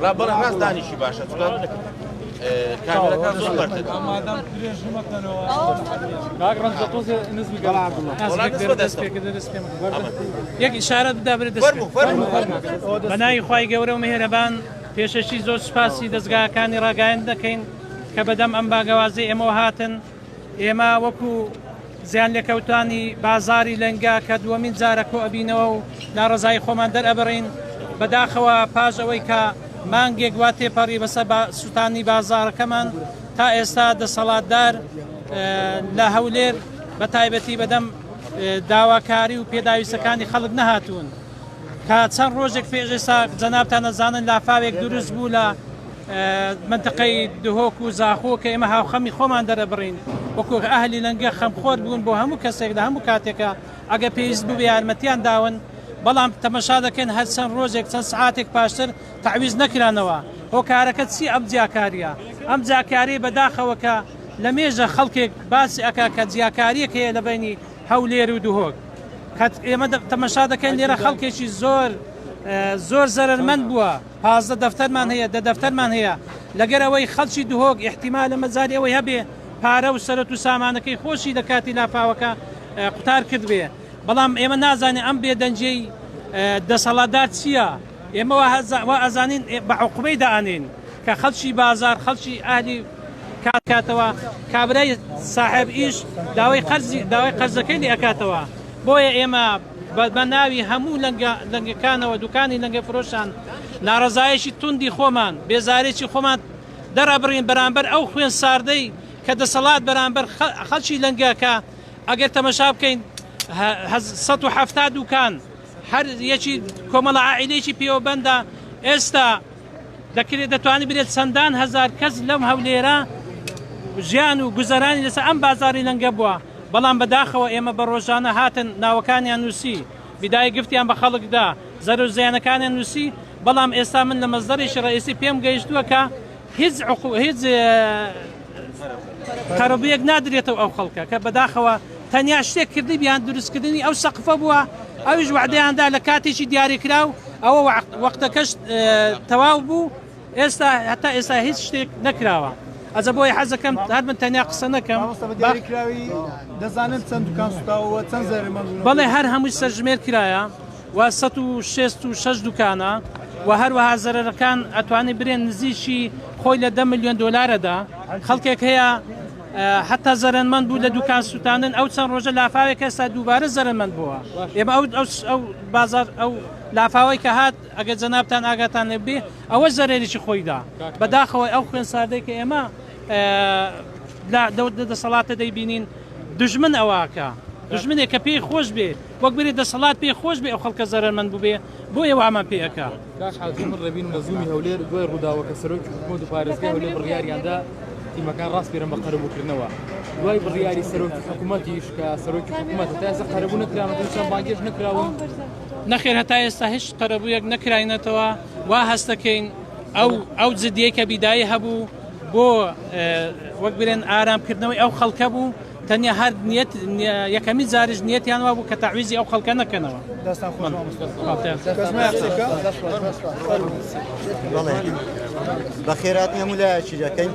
ڕابڕ ڕاست دانیشی باشە چکات کامێرەکە زۆر بەردە مادام درێژ مەکەنەوە کاک ڕەنج تۆزێ نزمی یەک ئشارە بدابرێت دەست بەناوی خی گەورە و مهێرەبان پێشەشی زۆر سوپاسی دەستگاکانی ڕاگەیان دەکەین کە بەدەم ئەم باگەوازی ئێمەوە هاتن ئێمە وەکو زیانلێکەوتانی بازاڕی لەنگە کە دووەمین جارە کۆئەبینەوە و ناڕەزایی خۆمان دەرئەبڕین بەداخەوە پاش ئەوەی کە مانگێک وا تێپەڕی بەسە سووتانی بازارەکەمان تا ئێستا دەسەڵاتدار لە هەولێر بە تایبەتی بەدەم داواکاری و پێداویستەکانی خەڵک نەهاتوون کە چەند ڕۆژێک پێش ئێستا جەنابتان نەزانن لافاوێک دروست بوو لە مەنتەقەی دهۆک و زاخۆ کە ئێمە هاوخەمی خۆمان دەرەبڕین وەکو ئەهلی لەنگە خەمخۆر بوون بۆ هەموو کەسێک لە هەموو کاتێکە ئەگە پێویست بوو یارمەتیان داون بەڵام تەمەشا دەکەن هەر چەند ڕۆژێک چەند سعاتێک پاشتر تعویز نەکرانەوە هۆکارەکە چی ئەم جیاکاریە ئەم جاکاری بەداخەوە کە لە مێژە خەڵکێک باسی ئەکا کە جیاکاریەک هەیە لە بینی هەولێر و دهۆک کات ئێمە تەمەشا دەکەین لێرە خەڵکێکی زۆر زۆر زەرمەند بووە پازدە دەفتەرمان هەیە، دە دەفتەرمان هەیە، لەگەر ئەوەی خەڵکی دهۆک ئیحتیمالە مەجالی ئەوەی هەبێ پارە و سەرەت و سامانەکەی خۆشی لە کاتی لافاوەکە قوتار کردبێ، بەڵام ئێمە نازانێ ئەم بێدەنگیەی دەسەڵاتدار چیە؟ ئێمە وا ئەزانین بە عوقوبەی دائەنێین کە خەڵکی بازار، خەڵکی ئەهلی کار بکاتەوە، کابرای ساحێب ئیش داوای قەرزی داوای قەرزەکەی لێ ئەکاتەوە، بۆیە ئێمە. بە بە ناوی هەموو لەنگە لەنگەکانەوە دوکانی لەنگە فرۆشان ناڕەزایەکی توندی خۆمان بێزارێکی خۆمان دەرئەبڕین بەرامبەر ئەو خوێن ساردەی کە دەسەڵات بەرامبەر خەڵکی لەنگە کە ئەگەر تەمەشا بکەین سەد و حەفتا دوکان هەر یەکی کۆمەڵە عائیلەیەکی پێوەبەندە ئێستا دەکرێت دەتوانێت بلێت چەندان هەزار کەس لەم هەولێرە ژیان و گوزەرانی لەسەر ئەم بازاری لەنگە بووە بەڵام بەداخەوە ئێمە بە ڕۆژانە هاتن ناوەکانیان نووسی بیدای گفتیان بە خەڵکدا زەرو زیانەکانیان نووسی بەڵام ئێستا من لە مەزدەرێکی ڕئیسی پێم گەیشتووە کە هیچ هیچ قەرەبوویەک نادرێتەوە ئەو خەڵکە کە بەداخەوە تەنیا شتێک کردیبیان دروستکردنی ئەو سەقفە بووە ئەویش وعدەیاندا لە کاتێکی دیاریکراو ئەوە وەختەکەش تەواو بوو ئێستا هەتا ئێستا هیچ شتێک نەکراوە. ئەزە بۆی حەزەکەم هەر من تەنیا قسە نەکەم دەزانن چەند دوکان سوتاوە چەند زەرمە بەڵێ هەر هەمووی سەرژمێر کرایە و سەد و شەست و شەش دوکانە و هەروەها زەرەرەکان ئەتوانی برێن نزیکی خۆی لە دە ملیۆن دۆلارەدا خەڵکێک هەیە حتا زەرەنمەند بوو لە دوکان سووتانن ئەو چەند ڕۆژە لافاوێک ئێستا دووبارە زەرەنمەند بووە ئێمە ئەو ئەو بازار ئەو لافاوەی کە هات ئەگەر جەنابان ئاگاتان لێبێ ئەوە زەرێریی خۆیدا بەداخەوەی ئەو خوێن ساردەی کە ئێمە دەسەڵاتە دەیبینین دژمن ئەوواکە دژمنێک کە پێی خۆش بێ وەک بری دەسەڵات پێی خۆش بێ ئەو خەڵکە زەرەرمەند بوبێ بۆیە وامان پێ ئەکا. کاک حاجی من ڕێبینم لە زوومی هەولێر دوای ڕووداوەکە سەرۆکی حکومەت و پارێزگای هەولێر بڕیاریان دا تیمەکان ڕاسپێرن بە قەرەبووکردنەوە دوای بڕیاری سەرۆکی حکومەتیش کە سەرۆکی حکومەت هەتا ئێستا قەرەبوو نەکراون هیچیان بانگێش نەکراون نەخێر هەتا ئێستا هیچ قەرەبوویەک نەکراینەتەوە وا هەست دەکەین ئەو ئەو جدیەکە بیدایی هەبوو بۆ وەک بلێن ئارامکردنەوەی ئەو خەڵکە بوو تەنیا هەر نیەت یەکەمین جاریش نیەتیان وابوو کە تەعویزی ئەو خەڵکە نەکەنەوە. دەستتان خۆش مامۆستا. بەخێر هاتن هەموو لایەکی دەکەین.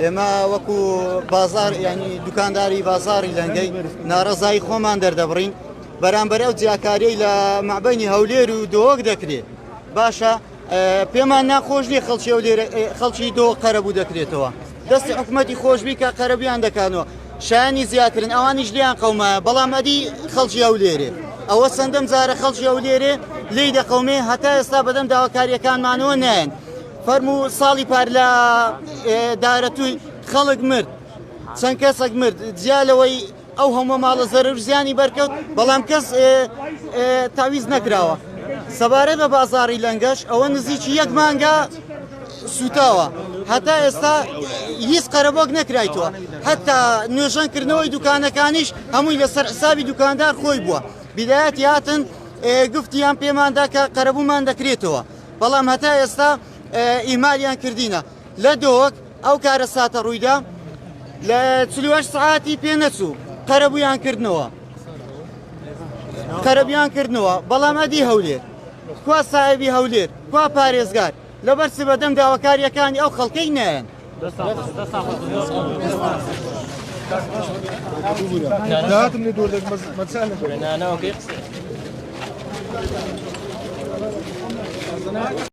ئێمە وەکو بازار ینی دوکانداری بازاری لەنگەی ناڕزایی خۆمان دەردەبڕین بەرامبەر ئەو جیاکاریی لە مابینی هەولێر و دۆک دەکرێت باشە پێمان ناخۆش نیە خەڵکی ئەو لێرە خەڵکی دۆ قەرەبوو دەکرێتەوە دەستی حکوومەتتی خۆشببی کە قەرەبیان دەکانەوە شانی زیاترن ئەوانیش لیان قەومایە بەڵام ئەدی خەڵکی ئەو لێرێ ئەوە سندم زارە خەڵکی ئەو لێرێ لی دەقەومێ هەتا ئێستا بەدەم داواکاریەکانمانەوە نایەن فەرمو ساڵی پار لە دارەتووی خەڵک مرد چەند کەسەک مرد جیا لەوەی ئەو هەموە ماڵە زەرەرو زیانی بەرکەوت بەڵام کەس تاویز نەکراوە سەبارەت بە بازاری لەنگەش ئەوە نزیکی یەک مانگە سوتاوە هەتا ئێستا هیچ قەرەبۆک نەکرایتەوە هەتا نوێژەنکردنەوەی دوکانەکانیش هەمووی لەسەر حسابی دوکاندار خۆی بووە بدایەت هاتن گفتیان پێماندا کە قەرەبوومان دەکرێتەوە بەڵام هەتا ئێستا ئیمالیان کردینە لە دۆک ئەو کارەساتە ڕوویدا لە چل و هەشت سەعاتی پێ نەچوو قەرەبوویان کردنەوە قەرەبیان کردنەوە بەڵام ئەدی هەولێر کوا سایبی هەولێر کوا پارێزگار لەبەر چ بەدەم داواکاریەکانی ئەو خەڵکەی نەیەن داتم لێ دۆر دەک مەچان نانەوەکەی قسە